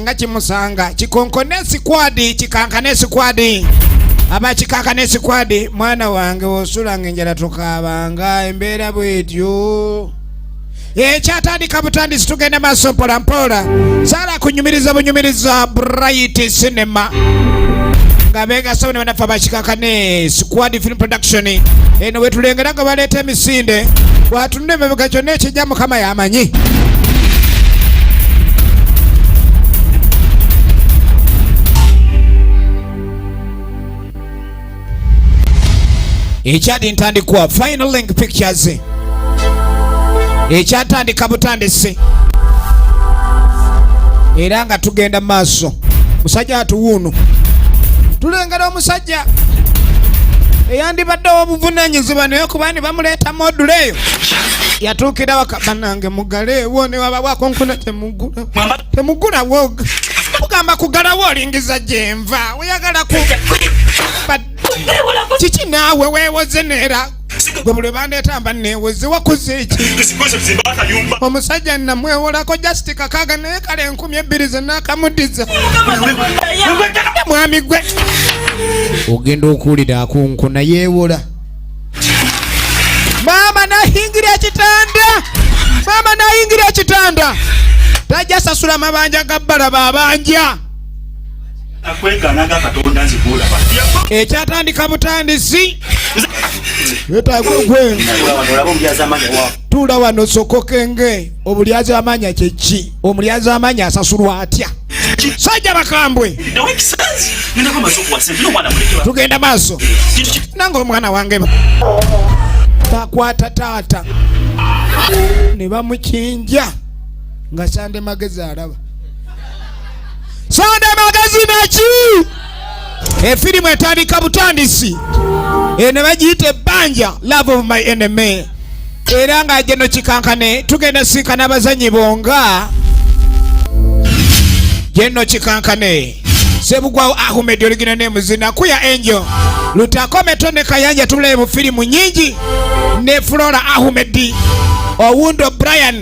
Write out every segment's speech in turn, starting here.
nga kimusanga kikonkone esikwadi kikankane esikwadi aba kikankane esikwadi mwana wange osula nga enjala tukaabanga embeera bwetyo ekyatandika butandisi tugenda maaso mpolampola sala kunyumiriza bunyumiriza bright cinema nga begasabone banaffe abakikakane squad film production eno wetulengera nga baleeta emisinde bwatunula emabega kyonna ekijja mukama yamanyi ekyadi ntandikwa final link pictures ekyatandika butandisi era nga tugenda mu maaso musajja atuwuuno tulengera omusajja omusajja eyandibadde owobuvunanyizibwa naye kuba ni bamuleeta module eyo yatuukira waka banange mugaleewo newabawako nkuna temugula temugula woga ogamba kugalawo olingiza gyenva oyagala ku kiki naawe wewoze neera gwe buli bandeeta mba neeweze wakoze eki omusajja namwewolako just kakaaga naye kale enkumi ebbiri zenaakamuddiza mwami gwe ogenda okuwulira akunku nayeewola maama nayingira ekitanda maama nayingira ekitanda tajja sasula mabanja ga bbala babanja ekyatandika butandisi tula wano sokokenge obulyazi amanya kyeki omulyazi amanya asasulwa atya sajja bakambwe tugenda maaso nange omwana wange bakwata taata ne bamukinja nga sande magezi alaba Sonda magazine ki? Efirimu etandika butandisi eno eh, bagiyita ebbanja love of my enemy era nga geno kikankane tugenda sinkana abazanyi bonga geno kikankane sebugwawo ahmed oligina nemuzina kuya enjo lutakometo ne kayanja tulaye mu firimu nyingi ne flora ahmed owundo brian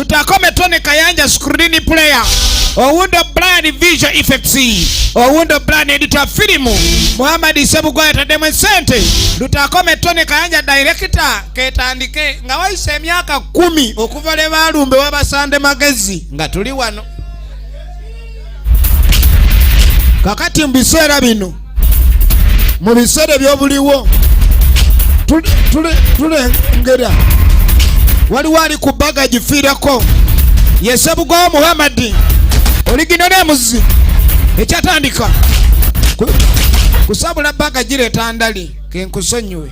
tutakome tone kayanja screen player owundo plan visual effects owundo plan editor film muhammad sebugwa yataddemu esente lutakome tone kayanja director ketandike nga wayise emyaka kumi okuva lwe balumbe wabasande magezi nga tuli wano kakati mu biseera bino mu biseera ebyobuliwo tulengera waliwo ali ku baga gifiirako yesebugwawo muhammadi oligino nemuzi ekyatandika kusabula baga gireeta ndali kenkusonyiwe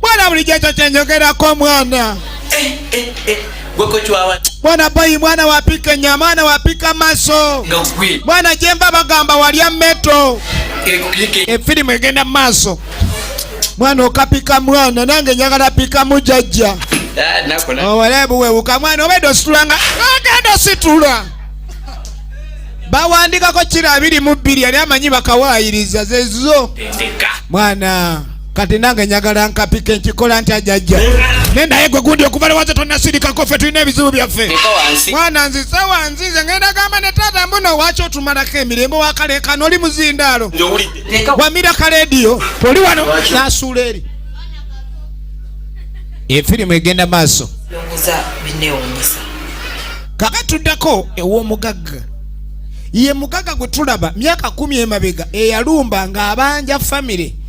Bwana bulijjo ekyo kye njogerako omwana. Eh, eh, eh. Bwana boyi mwana wapika nyama ana wapika maso bwana jemba bagamba walya meto efirimu egenda maaso mwana okapika mwana nange njagala pika mujajja ah, owalebu oh, wewuka mwana obedde ositulanga agenda ah, ositula bawandikako kira abiri mu bbiri yali amanyi bakawaayiriza zezo mwana kati nange njagala nkapike nkikola ntya jajja ne naye gwe gundi okuva lewazo tonasirikako ffe tulina ebizibu byaffe mwana nzize wanzize ngenda gamba ne taata mbuno owaki otumalako emirembe wakalekana oli muzindaalo wamira kalediyo oli wano nasuula eri efirimu egenda maaso kaka tuddako ew'omugagga ye mugagga gwe tulaba myaka kumi emabega eyalumba ng'abanja famire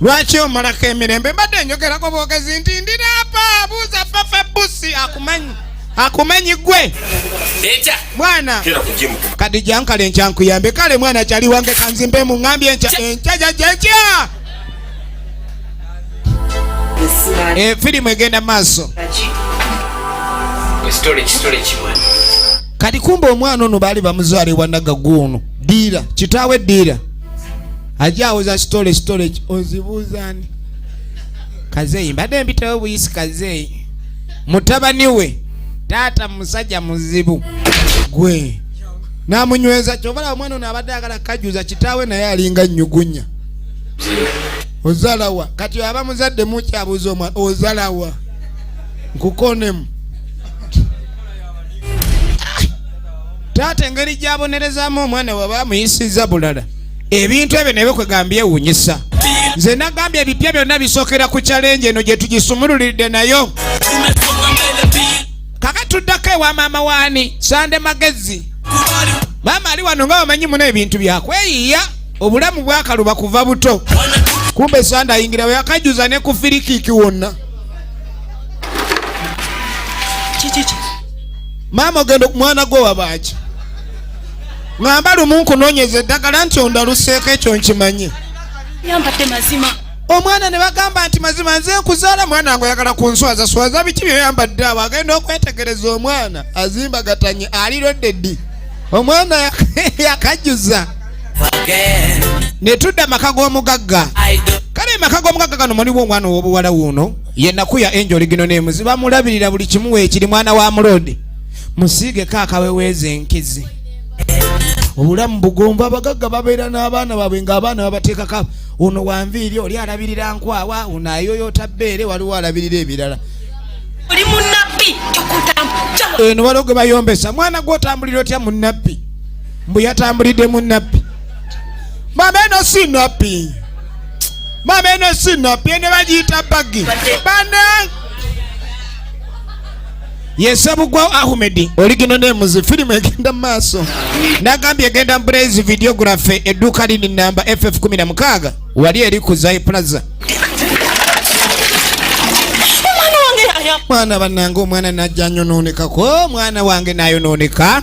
lwaki omalako emirembe mbadde njogerako bwogezi nti ndiraapa abuuza fafa busi akumanyi akumanyi gwe mwana kadi jankale nkyankuyambe kale mwana kyali wange kanzimbe mu ŋambye enkyajajaja eh, firimu egenda mu maaso kati kumba omwana ono baali bamuzwala ewanagaguuno diira kitaawe diira ajja awoza sitole sitole ozibuuzaani kazeeyi mbadde mpitawo buyisi kazeeyi mutabani we taata musajja muzibu gwe namunyweza kyobalaba omwana ono abadde agala kajuza kitaawe naye alinga nyugunya ozalawa kati aba muzadde mukyabuuza omwana ozalawa nkukonemu taata engeri gyabonerezamu omwana waba amuyisiza bulala ebintu ebyo nebyo kwegambye ewunyisa nze nagambye ebipya byonna bisookera ku kyalenje eno gye tugisumululiridde nayo kaka tuddako ewa maama waani sande magezi maama ali wano nga bamanyi muna ebintu byakweyiiya obulamu bwakaluba kuva buto kumbe sande ayingira weyakajuza ne ku firikiki wonna maama ogenda mwana gwe wabaaki ngamba lumu nkunonyeza eddagala nti ondaluseeko ekyo nkimanyi omwana ne bagamba nti mazima nze nkuzaala mwana wange oyagala kunswaza swaza biki byoyambadde awo agenda okwetegereza omwana azimba gatanye alilodde ddi omwana yakajjuza ne tudda maka g'omugagga kale emaka g'omugagga gano muliwo omwana ow'obuwala wuuno yenaku ya enjoli gino nemuzi bamulabirira buli kimu weekiri mwana wa muloodi musiigeko akaweweeza enkizi obulamu bugomba abagagga babeera n'abaana baabwe ng'abaana babateekaka ono wanviiri oli alabirira nkwawa ono ayoyota bbeere waliwo alabirira ebirala oli munabbi eno waliwo gwe bayombesa mwana gwe otambulira otya munabbi mbu yatambulidde munabbi mama eno si nabbi mama eno si nabbi ene bagiyita bagi bana yesebugwa ahmed oligino nemuzi firimu egenda mumaaso nagambye egenda mubulayizi videography edduuka lini namba ff 16 wali eri ku zai plaza mwana banange omwana najja nyonoonekako omwana wange nayonooneka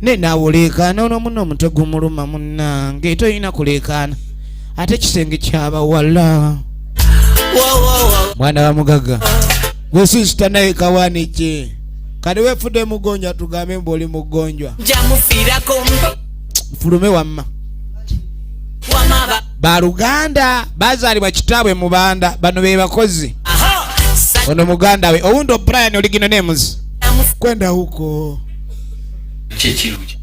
naye naawe oleekaana ono muno omutwe gumuluma munnange toyina kuleekaana ate ekisenge kyabawala mwana wa mugagga gwesisita naye kawaniki kati wefude mugonjwa tugambe mbu oli mugonjwa mufulume wamma baluganda bazaalibwa kitaabwe mubanda bano be bakozi ono muganda we owundi obrian oligino nemuzi kwenda huko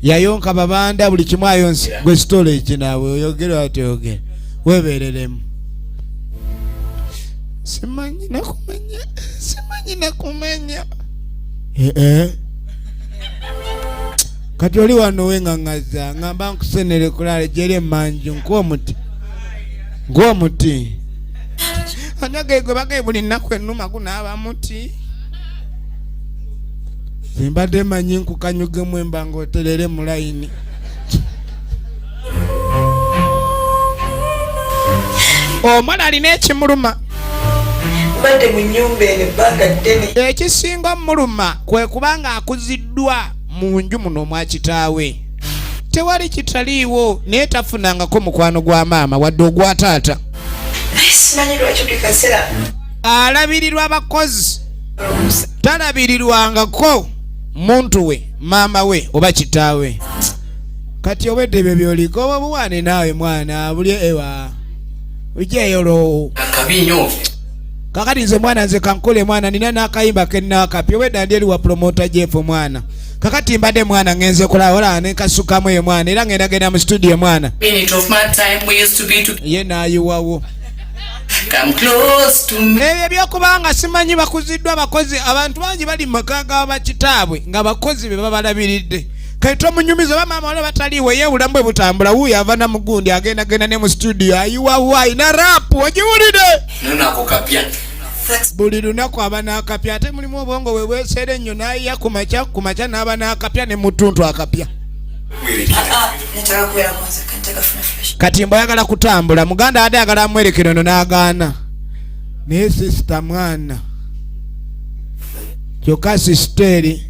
yayonka babanda buli kimu ayonsi gwe sitole eki naawe oyogere watyogere webereremu simanyi nakumanya simanyi nakumanya ee eh, eh. kati oli wano wengangaza ngamba nkusenere kulala jeri emanju nkuwa omuti nkuwa omuti anyagegwe bagaye buli nnaku enuma gunaaba muti embadde manyi nkukanyugemu emba nga oterere mu layini omwana alina ekimuluma ekisinga omuluma kwe kubanga akuziddwa mu nju muno omwa kitaawe tewali kitaliiwo naye tafunangako mukwano gwa maama wadde ogwa taata alabirirwa abakozi talabirirwangako muntu we maama we oba kitaawe kati obwedde ebyo byoliko oba buwaane naawe mwana buli ewa ujeyolo akabi nyo kakati nze mwana nze kankole mwana nina nakayimba kenakapya obwedda ndi eri wa promota jefu mwana kakati mbadde mwana ngenze kulaba olaba nenkasukamu eyo mwana era ngenda genda mu studio mwana ye nayiwawo ebyo ebyokuba nga simanyi bakuziddwa abakozi abantu bangi bali mu maka ga bakitaabwe nga bakozi be babalabiridde kale tomunyumiza oba maama wala bataliiwo ye obulamu bwe butambula wuuyo ava na mugundi agenda genda ne mu situdiyo ayiwawayi na rapu ogiwulide buli lunaku aba n'akapya ate mulimu obwongo we bweseera ennyo n'ayiya ku makya ku makya n'aba n'akapya ne mutuntu akapya ah, kati mbayagala kutambula muganda ade agala amwerekero no n'agaana naye sisita mwana kyokka sisiteeri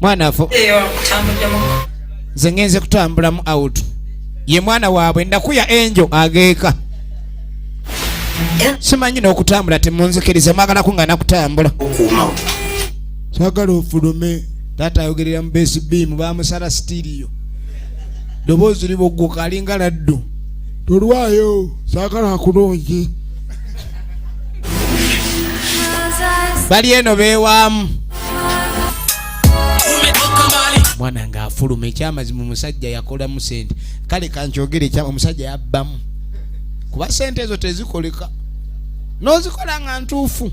mwana afo nze ngenze kutambulamu out ye mwana waabwe ndakuya enjo ageeka simanyi n'okutambula temunzikiriza mwagala ku nga nakutambula sagala ofulume taata ayogerera mu besi biimu bamusala sitiriyo doboozi liboggoka alinga laddu tolwayo sagala akulungi bali eno bewaamu mwana nga afuluma ekyamazima omusajja yakolamu sente kale kankyogere ekyama omusajja yabbamu kuba sente ezo tezikoleka nozikola nga ntuufu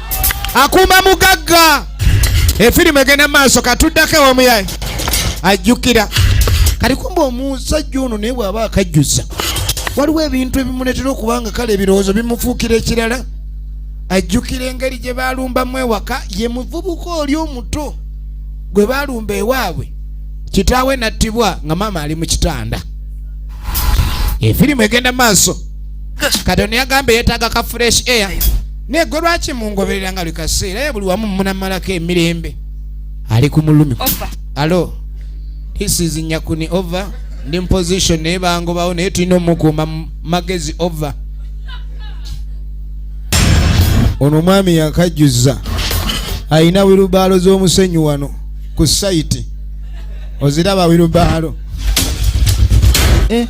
akuuma mugagga efirimu egenda mu maaso katuddako ewamuyaye ajjukira kati kumba omusajja ono naye bw'aba akajjuza waliwo ebintu ebimuleetera okuba nga kale ebirowoozo bimufuukira ekirala ajjukira engeri gye baalumbamu ewaka ye muvubuka oli omuto gwe baalumba ewaabwe kitaawe nattibwa nga maama ali mu kitanda efirimu egenda maaso katonda yagamba yetaaga ka fresh air naye gwe lwaki mungoberera nga buli kaseera ye buli wamu munamalako emirembe ali ku mulumi alo this is nyakuni over ndi muposition naye bangobawo naye tulina omukuuma magezi over ono omwami yakajjuza alina wirubaalo z'omusenyi wano ku sayiti oziraba wirubaalo eh?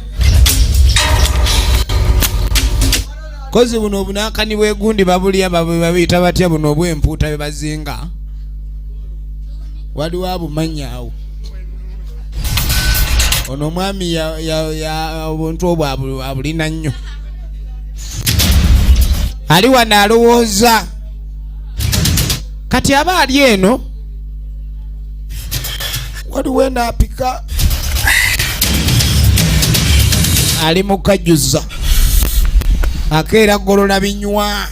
kozi buno obunakani bwegundi babulya babuyita batya buno obwempuuta bebazinga waliwo abumanyawo ono omwami obuntu obwo abulina nnyo ali wano alowooza kati aba ali eno waliwo enaapika ali mukajuza akeera golola binywa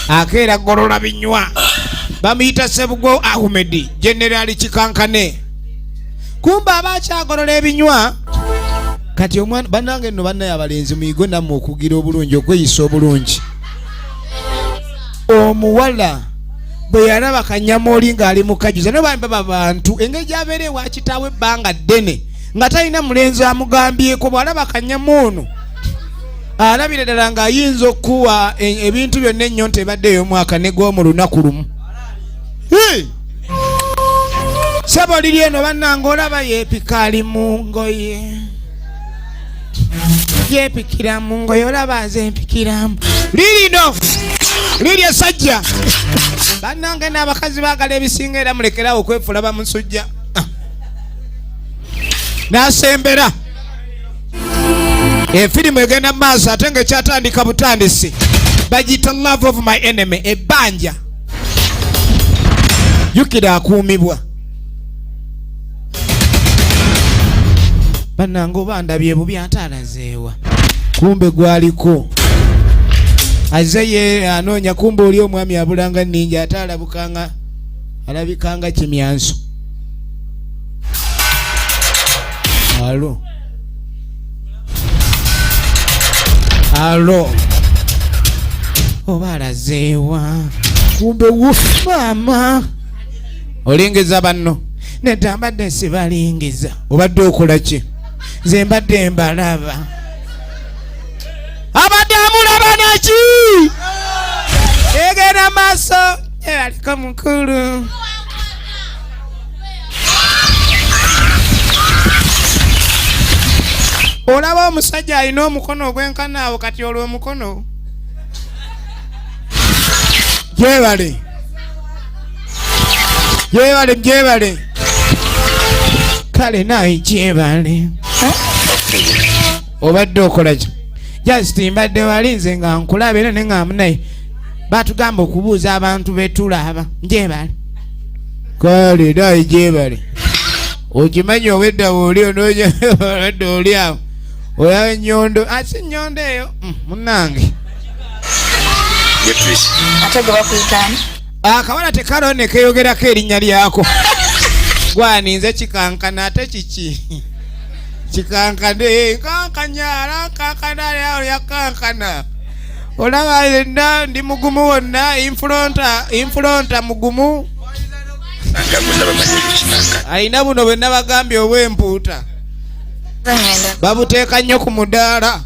akeera golola binywa bamuyita sebugo ahumedi generali kikankane kumbe aba akyagolola ebinywa kati omwana banange no banaye abalenzi muyigwe namwe okugira obulungi okweyisa obulungi omuwala bwe yalaba kanyamooli ng'ali mu kajuza no bambi baba bantu engeri gyabeera ewa kitaawe ebbanga ddene nga talina mulenzi amugambyeko bw'alaba kanyama ono alabira ddala ng'ayinza okukuwa e, ebintu byonna ennyo nti ebadde ey'omwaka ne gwomu lunaku lumu sebo liri eno bannanga olaba yeepika ali mu ngoye yepikiramu ngoye olaba nze mpikiramu lirino liri esajja bannange n'abakazi baagala ebisinga era mulekerawo okwefula bamusujja ah. nasembera efirimu egenda mu maaso ate nga ekyatandika butandisi bagiyita love of my enemy ebbanja jukira akuumibwa banange oba ndabye bubi ate alazeewa kumbe gwaliko aze ye anoonya kumbe oli omwami abulanga ninja ate alabukanga alabikanga kimyanso alo alo oba alazeewa kumbe wufu maama olingiza banno nedda mbadde sibalingiza obadde okola ki nze mbadde mbalaba abadde amulaba naki egenda maaso ebaliko mukulu olaba omusajja alina omukono ogwenkana awo kati olwo omukono gyebali Jebale jebale. Kale naye jebale. Obadde okola ki? Just mbadde wali nze nga nkulaba era ne nga munaye. Batugamba okubuuza abantu betulaba. Jebale. Kale naye jebale. Okimanyi obedda woli onoonya obadde oli awo. Oya nyondo, asi nyondo eyo. Mm, munange. akabala ah, tekalo nekeyogerako erinnya lyako gwani nze kikankana ate kiki kikankane nkankanyala nkankana lyawo lyakankana olaba yenna ndi mugumu wonna infulonta infulonta mugumu alina buno bwe nabagambye obwempuuta babuteeka nnyo ku mudaala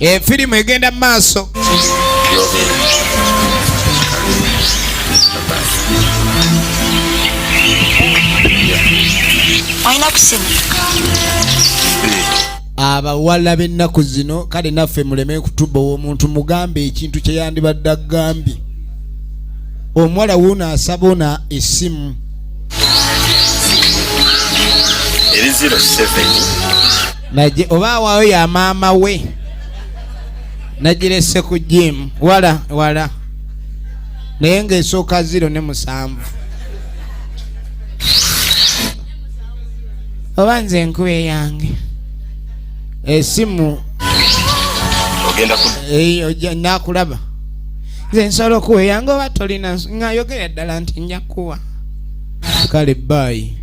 efirimu eh, egenda mu maaso abawala b'ennaku zino kale naffe muleme kutuba omuntu mugambe ekintu kye yandibadde agambye omuwala wuuno asaba ona esimu eri 07 oba awaayo ya maama we nagirese ku jimu wala wala naye ngaesooka ziro ne musanvu oba nze enkuba eyange esimu eh, eh, nakulaba nze nsobola okuweyanga oba tolina ngayogera ddala nti nja kuwa kale baayi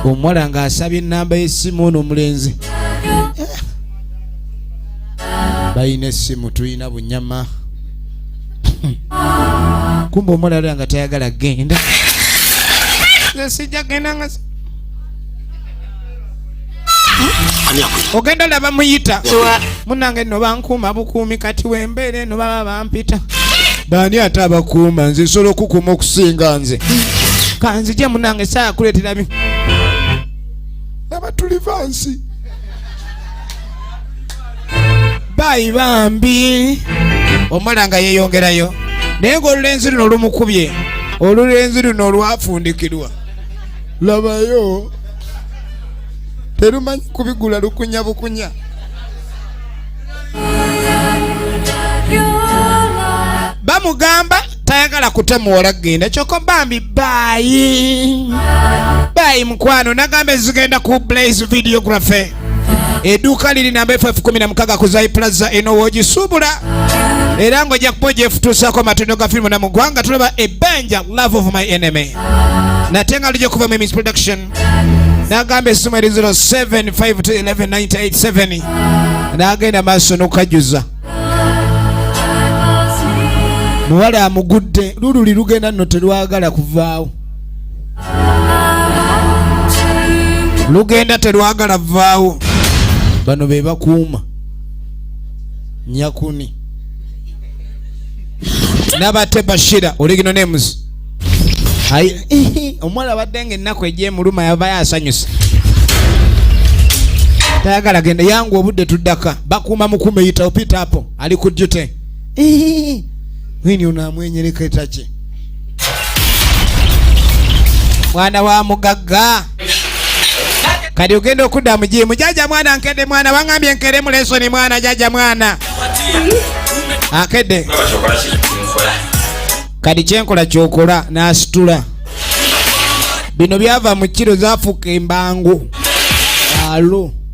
omuwala nga asabye enamba y'essimu ono omulenzi balina essimu tulina bunyama kumba omuwala alira nga tayagala genda nze sijja genda nga ogenda laba muyita munange no bankuuma bukuumi kati wembeera eno baba bampita baani ate abakuuma nze nsobola okukuuma okusinga nze kanzije munange saa kuleetera bi abatuliva nsi bayi bambi omala nga yeyongerayo naye ngaolulenzi luno lumukubye olulenzi luno olwafundikirwa labayo terumanyi kubigula lukunya bukunya bamugamba tayagala kutemuwola genda kyoko bambi bayi bayi mukwano nagamba ezigenda ku blaze videography Eduuka liri namba FF 16 ku Zai Plaza eno w'ogisuubula era ng'ojja kuba ogyefutuusaako amatondo ga firimu na mu ggwanga tulaba ebbanja love of my enemy nate nga lujja okuva mu Miss Production n'agamba essimu eri 0752119887 n'agenda maaso n'okukajjuza muwala amugudde lululi lugenda nno terwagala kuvaawo lugenda telwagala vaawo bano bebakuuma nyakuni nabate bashira oligino nemuzi omuwala abadde nga ennaku egyemuluma yavayo asanyusa tayagala genda yangu obudde tuddaka bakuuma mukuuma eyitawo pita apo ali ku dute wini ono amwenyereka etaki mwana wa mugagga kati ogenda okudda mu jiimu jaja mwana nkedde mwana wangambye nkere mu lesoni mwana jaja mwana akedde kati kyenkola kyokola nasitula bino byava mu kiro zafuuka embangu alo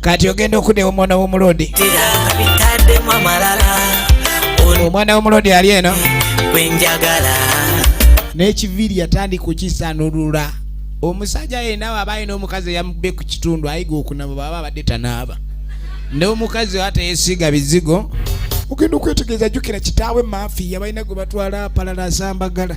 kati ogenda okudewa omwana womulodi omwana womulodi ali eno nekiviiri yatandika okisanulula omusajja yenawe aba alina omukazi eyamube ku kitundu ayiga okunaba baba abadde tanaaba nomukazi wateyesiga bizigo ogenda okwetegeeza jukira kitaawe maafi yabalina gwe batwala apalala asambagala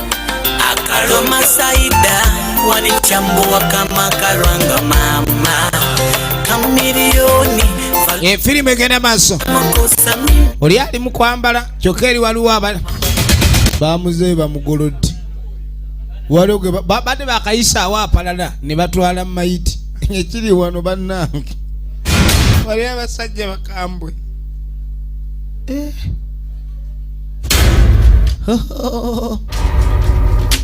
akaloma saida wanichambuwa kama karwanga mama kamilioni efirimu eh, egenda maaso oli ali mu kwambala kyokka eri waliwo abala bamuzeeyi bamugolodde waliwo gwe babadde bakayisaawo apalala ne batwala mu mayiti ekiri wano bannange waliwo abasajja bakambwe eh.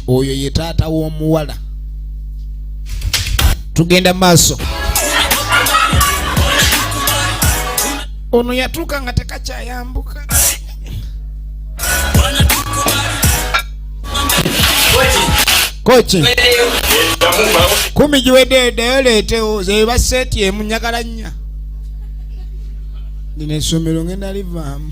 oyo ye taata w'omuwala tugenda maaso ono yatuuka nga tekakyayambuka koki kumi giwedde ddayo leetewo zeba seeti emu njagala nnya ndina essomero ngenda livaamu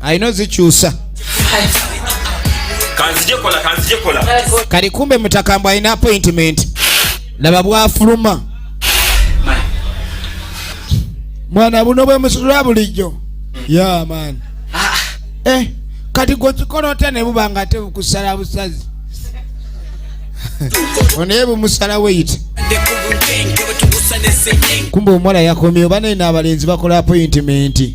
alina ozikyusa kali kumbe mutakambw alina appointment laba bwafuluma mwana buno bwemusula bulijjo ya man ah. eh, kati gwekikola otya nebuba nga ate bukusala busazi onaye bumusala weyite kumbe omuwala yakomyewo banaye n'abalenzi bakola appointment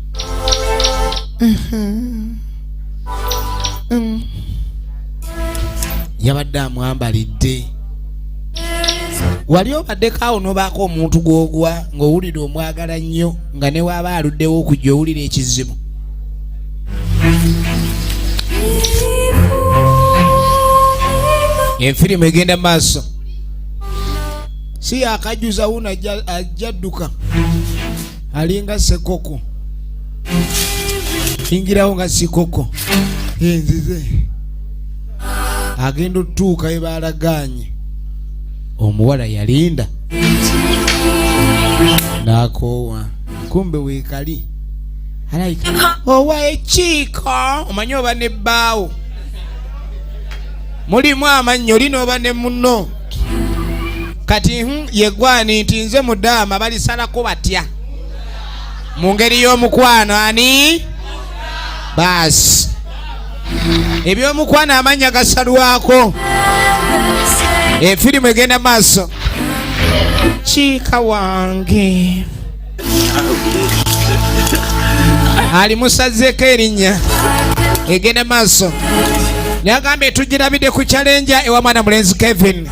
Mm-hmm. Mm. yabadde amwambalidde wali obaddeko awo nobaako omuntu gwogwa ng'owulira omwagala nnyo nga newaaba aluddewo okujja owulira ekizibu enfirimu egenda maaso si yakajjuza wuno ajja dduka alinga sekoko ingirawo nga sikoko enzize agenda otutuuka ebalaganye omuwala yalinda nakoowa kumbe wekali owa ekiiko omanyi oba ne bbaawo mulimu amannyo oli nooba ne munno kati hmm, yegwani nti nze mudaama balisalako batya mu ngeri y'omukwano ani baasi ebyomukwano amannya gasalwako efirimu egenda maaso kiika wange alimusazeeko erinnya egende maaso nagambye tugirabidde ku kyalenja ewa mwana mulenzi kevin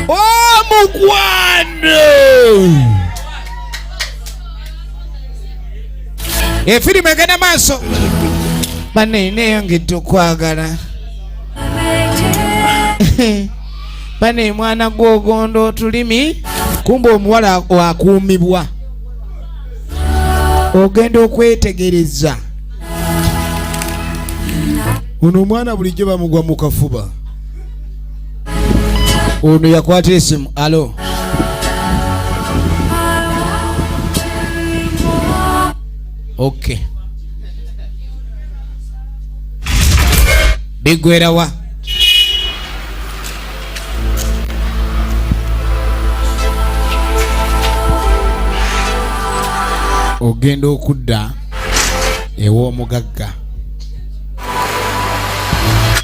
omukwano efirimu egenda maaso banne neyongedde okwagala bana emwana gwogondo otulimi kumba omuwala wakuumibwa ogenda okwetegereza ono omwana bulijjo bamugwa mu kafuba ono yakwata esimu alo okay bigwerawa ogenda okudda ew'omugagga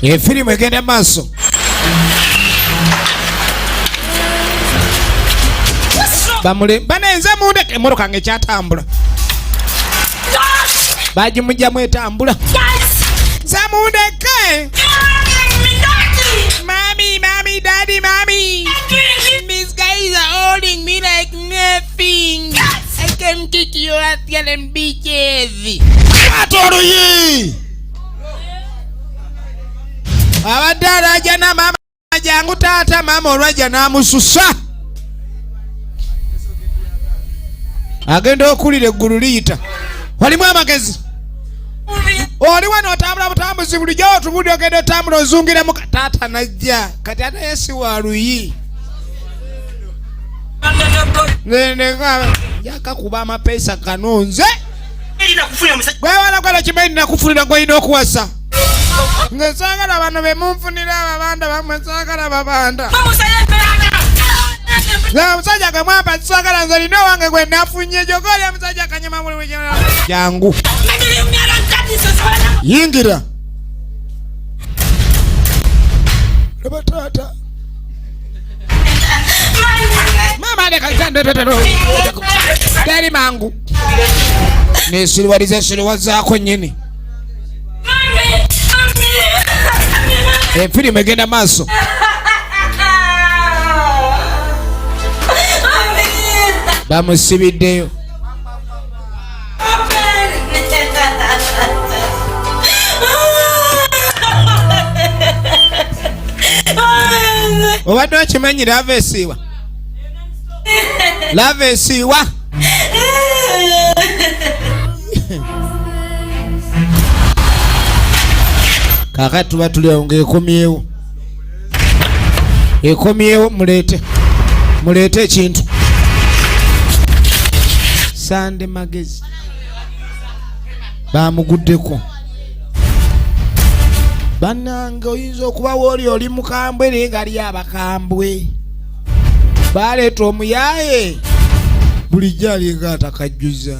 efirimu egenda maaso bamule banenze mundeke emotoka nga ekyatambula bajimujjamu etambula zamundeke mami mami dadi mami these guys are holding me like nothing i can kick you at yalen beaches atoluyi abadde alajana mama jangu taata maama olwajja n'amususa agenda okulira eggulu liyita walimu amagezi oli wano otambula butambuzi bulijjo otubuli ogenda otambula ozungiremu taata najja kati ate yesi wa luyi yakakuba amapeesa kanonze gwewala gwala kimanyi nakufunira gwolina okuwasa nze saagala bano be munfunira ababanda bamwe saagala babanda omusajja gamwamba saagala nze lina owange gwe nafunye gyoka oli omusajja kanyuma buli jangu yingira laba taata mama alekaitandetero teri mangu nesiriwaliza esiriwa zaako nyini Eh, firimu egenda maaso bamusibiddeyo obadde okimanyira ava esiiwa love esiwa kakati tuba tuli awo ngaekomyewo ekomyewo muleete muleete ekintu sande magezi bamuguddeko banange oyinza okuba wooli oli mukambwe naye ngali abakambwe baleeta omuyaaye bulijjo alinga atakajjuza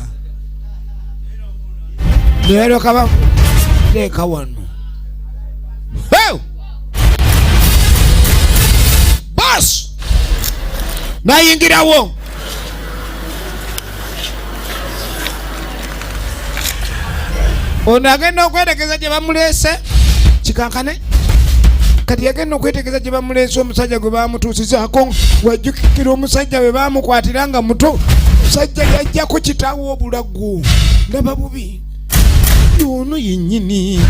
neyalyoka bateeka wano bas nayingirawo ono agenda okwetegeza gye bamuleese kikankane kati yagenda okwetegeza gye bamuleese omusajja gwe bamutuusizako wajjukikira omusajja bwe bamukwatira nga muto omusajja yajjako kitaawo obulagu ndaba bubi ono yennyini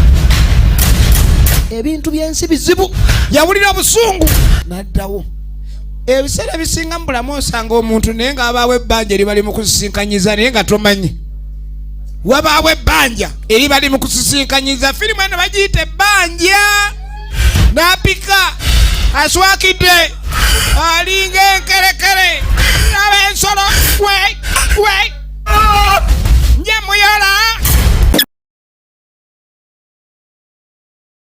ebintu byensi bizibu yawulira obusungu naddawo ebiseera ebisinga mu bulamu osanga omuntu naye nga abaawo ebbanja eri bali mu kusisinkanyiza naye nga tomanyi wabaawo ebbanja eri bali mu kusisinkanyiza firimu eno bagiyita ebbanja napika aswakidde alinga enkerekere aba ensolo we we njemuyola